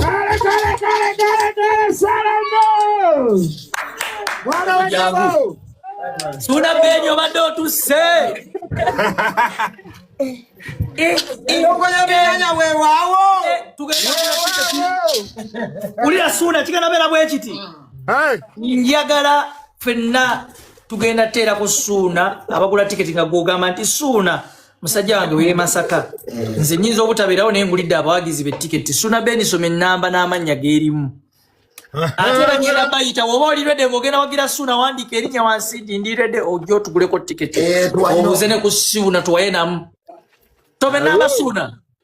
Kale kale kale kale kale salamo. Bwana wangu. Suna benyo obadde otusse. Ulira suna kigenda beera bwe kiti. Njagala fenna tugenda teera ku suuna abagula tiketi nga gwogamba nti suuna musajja wange weye masaka nze nyinza obutabeerawo naye ngulidde abawagizi betiketi suna benisoma enamba n'amannya gerimu ate bagenda bayita woba olirede ngogenda wagira suna wandika erinya wansi nti ndirede ojo otuguleko tiketi eh, obuze ne ku siuna tuwaye namu tobe n'abasuuna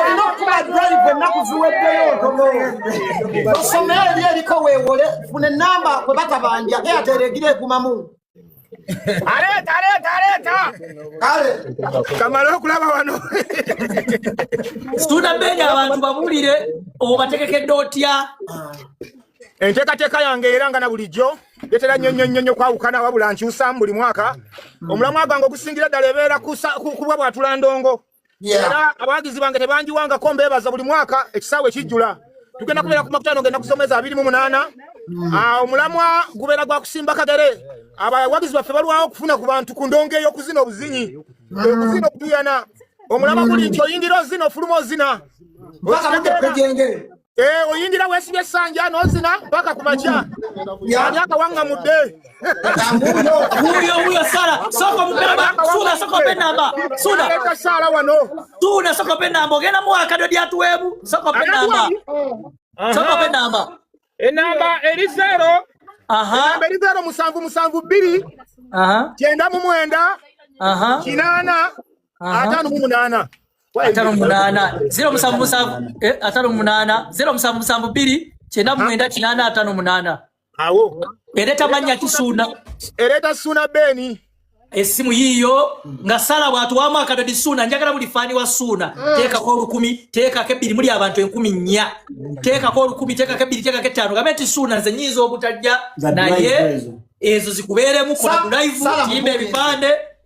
olina okuba drive ennaku ziweddeyo ntono osomera eri eriko weewole funa enamba kwe batabanja eyatera egira egumamu aleeta aleeta aleeta kale kamala okulaba wano situnda beenya abantu babuulire obategekedde otya enteekateeka yange era nga na bulijjo ndetera nnyo nnyo nnyo nnyo kwawukana wabula nkyusamu buli mwaka mm. omulamwa gwange ogusingira ddala ebeera kubwa bwatula ndongo era abawagizi bange tebanjiwangako mbeebaza buli mwaka ekisaawe ekijjula tugenda kubeera ku makutano ngenda kusomeza abiri mu munaana mm. ah, omulamwa gubeera gwa kusimba kagere abawagizi baffe balwawo okufuna ku bantu ku ndongo ey'okuzina obuzinyi mm. okuzina okutuyana omulamwa guli nti oyingira ozina ofuluma ozina Eh, oyingira wesibye sanja nozina mpaka kumacha yamyaka wanga mude huyo huyo sala soko mupema sula soko penamba sula leta sala wano tuna soko penamba ogenda mu akado dia tuwebu soko penamba soko penamba enamba eri zero aha enamba eri zero musanvu musanvu biri aha kyenda mu mwenda aha kinana atano mu munana atano munana zero musanvu musanvu eh, atano munana zero musanvu musanvu biri kyenda mwenda kinana atano munana awo ereta manya kisuna ereta suna beni esimu yiyo nga sala watu wa mwaka dodi suna njagala buli fani wa suna mm. teka kwa lukumi teka ke biri muli abantu enkumi nya teka kwa lukumi teka ke biri teka ke tano gameti suna nze nyizo obutajja na ye ezo zikuberemu kuna live timbe bipande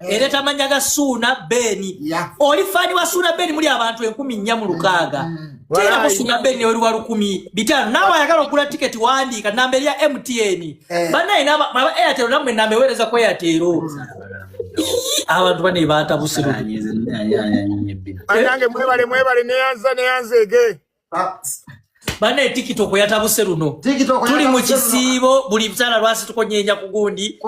eh. era tamanya ga suuna beeni oli faani wa suuna beeni muli abantu enkumi nnya mu lukaaga mm. tera ku suuna beeni oli wa lukumi bitaano naawe ayagala okugula tiketi wandiika namba erya mtn eh. banaye aba airtel namwe namba eweereza ku airtel abantu bane baatabusiruanange mwebale mwebale neyanza neyanza ege ah. bane tiktok yatabuse luno tuli mu kisiibo buli msala lwasi tukonyeenya ku gundi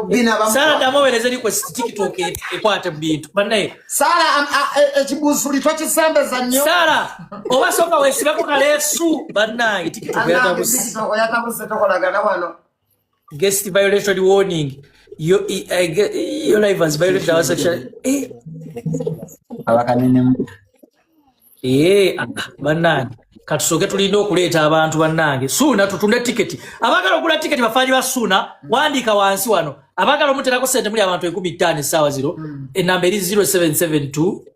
sala damubereze likwe tiktok e- ekwate mu bintu bane sala e- ekibuzuli tokisembeza nnyo sala oba soka wesibeko kaleesu bannange tiktok yatabuse guest violation warning yo eh, yo live has violated our sexual eh abakanene eh ah, banani katusoke tulina okuleeta abantu bannange suuna tutunde tiketi abagala okugula tiketi bafaanyi ba suuna wandiika wansi wano abagala omuterako sente muli abantu enkumi ttaano essaawa ziro hmm. enamba eri 0772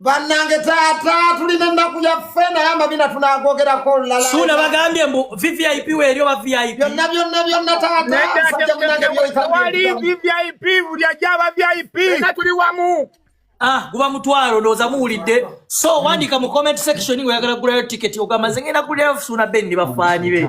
bannange taata tulina ennaku yaffe naye amabina tunagogerako lulalasuula bagambye mbu vvip weeri oba vip byonna byonna byonna taatawali vvip buli ajaba vip ena tuli wamu ah guba mutwalo ndoza muwulidde so wandika mu comment section ngoyagala kugulayo ticket ogamba nze ngenda kulyayo suuna ben ne bafaani be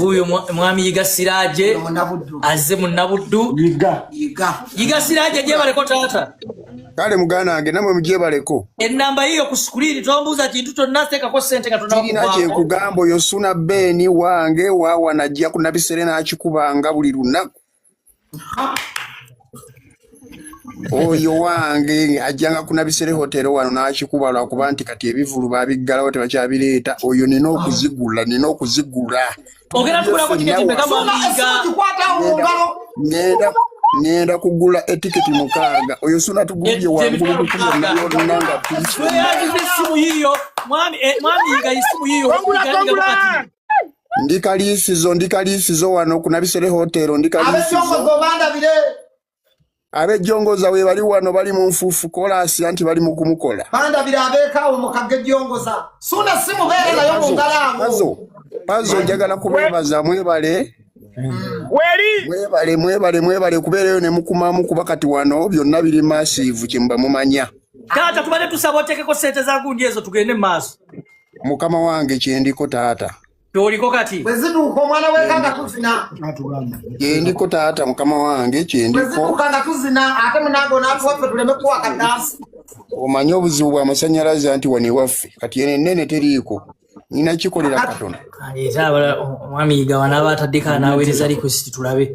wuyo mwami yiga siraje azze munnabuddu yiga siraje gyebaleko taata kale muganda wange namwe mugyebaleko enamba yiyo ku sikuliini tombuuza kintu kyonna teekako sente katonakirina kyekugamba oyo suna beeni wange wawa najja ku nabisere n'akikubanga buli lunaku oyo wange ajjanga kunabisere hotero wano n'akikuba lwakuba nti kati ebivulu babiggalawo tebakyabireeta oyo nina okuzigula nina okuzigula ngenda kugula etiketi mukaaga oyo suna tugulye wangulu kukumanayonanga mwami yiga isimu yiyo ndi kaliisizo ndi kaliisizo wano ku nabisere hotel ndi kaliisizo abejjongoza we bali wano bali mu nfuufu kolaasi anti bali mu kumukola bandabira abeekaawo mu kagejjongoza suna si mubeere nayo mu ngalaamo pazo njagala kubeebaza mwebale Mm. weli mwebale mwebale mwebale kubeereyo ne mukumamu kuba kati wano byonna biri maasiivu kyemuba mumanya taata tubadde tusaba oteekeko sente za gundi ezo tugende mu maaso mukama wange kyendiko taata kyoliko kati bwezituuka omwana weka nga tuzina kyendiko taata mukama wange kyendiko bwezituuka nga tuzina ate munange onatuwaffe tuleme kuwa kadansi omanyi obuzibu bwa masanyalaze anti wano ewaffe kati eno ennene teriiko nina kikolera katono aleeta abala omwami yiga wanaaba ataddeko anaaweereza likwesiti tulabe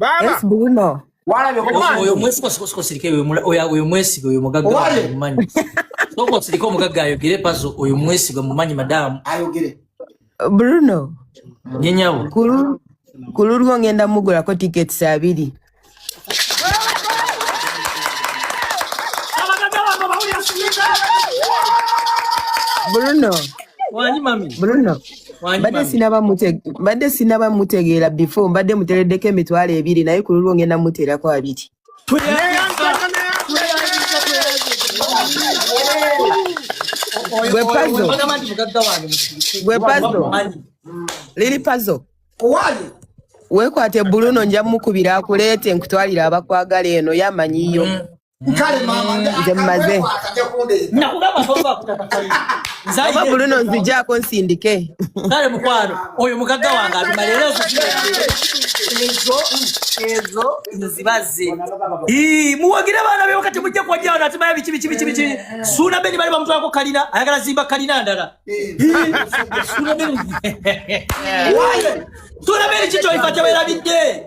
baba yes buno walabe oyo mwesi ko siko sirike oyo oyo oyo mwesi oyo mugaga mumanyi soko sirike omugaga ayogere pazo oyo mwesi go mumanyi madam ayogere bruno nyenyawo kulu kulu lwo ngenda mugula ko tickets abiri Bruno. Wani mami. Bruno. mbadde sinaba mutegeera before mbadde mutereddeko emitwalo ebiri naye ku lulwo ngenda muteerako abiri gwe pazo liri pazo wekwate buluno nja mukubira akuleete nkutwalira abakwagala eno yamanyiyo mm. kale mama nze mmaze nakugamba toba kutakafanya oba buluno nzijako nsindike kale mukwano oyo mugagga wange abima leero ezo ezo nzibaze muwagire abaana be wakati mujja kuwajira wano atimaya biki biki biki biki suuna beni bali bamutwalako kalina ayagala zimba kalina ndala suuna beni suuna beni kikyoifa kyabaerabidde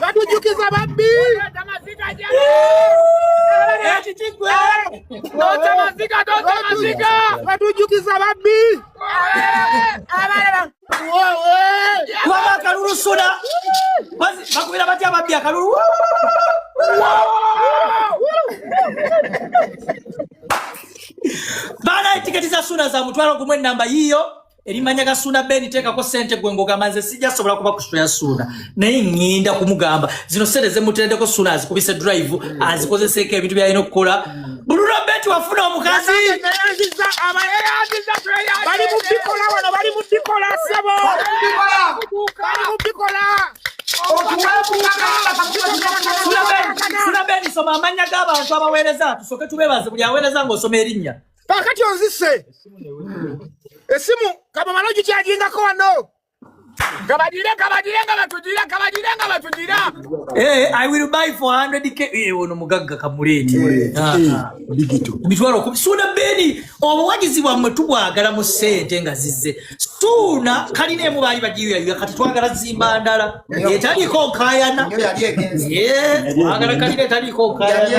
batujukiza babbi batujukiza babbi akalulu suna bakubira batya babbi akalulu baana etiketi za suna za mutwalo gumu enamba yiyo erimanya gasunda beni tekako sente gwe ngogamba nze sijja sobola kuba kusito ya sunda naye ŋŋenda kumugamba zino sente zemutendeko sunda azikubise drive azikozeseeko ebintu byalina okukola buluno beti wafuna omukazi sula beni soma amanya g'abantu abaweereza tusoke tubebaze buli aweereza ng'osoma erinnya kakati onzise esimu kabamala ogikyajingako wano kabagire kabagire nga batugira kabagire nga batugira eh, i will buy for 100 k eh, ono mugagga kamuleeti eh, ah, ah. mitwalo kumi suuna beni obuwagizi bwammwe tubwagala mu sente nga zizze suuna kalina emu baali bagiyuyayuya kati twagala zimba ndala etaliiko nkayana twagala kalina etaliiko nkayana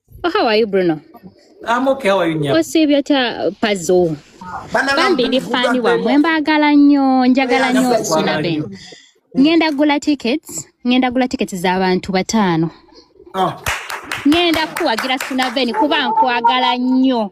Oh, how are you, Bruno? I'm okay. How are you, Nyam? Osibya ta pazo. Bambi ndi fani wa mwe mbagala nnyo njagala nnyo osula ben. Ngenda gula tickets, ngenda gula tickets za bantu batano. Oh. Ngenda kuwagira Suna Ben kuba nkwagala nnyo.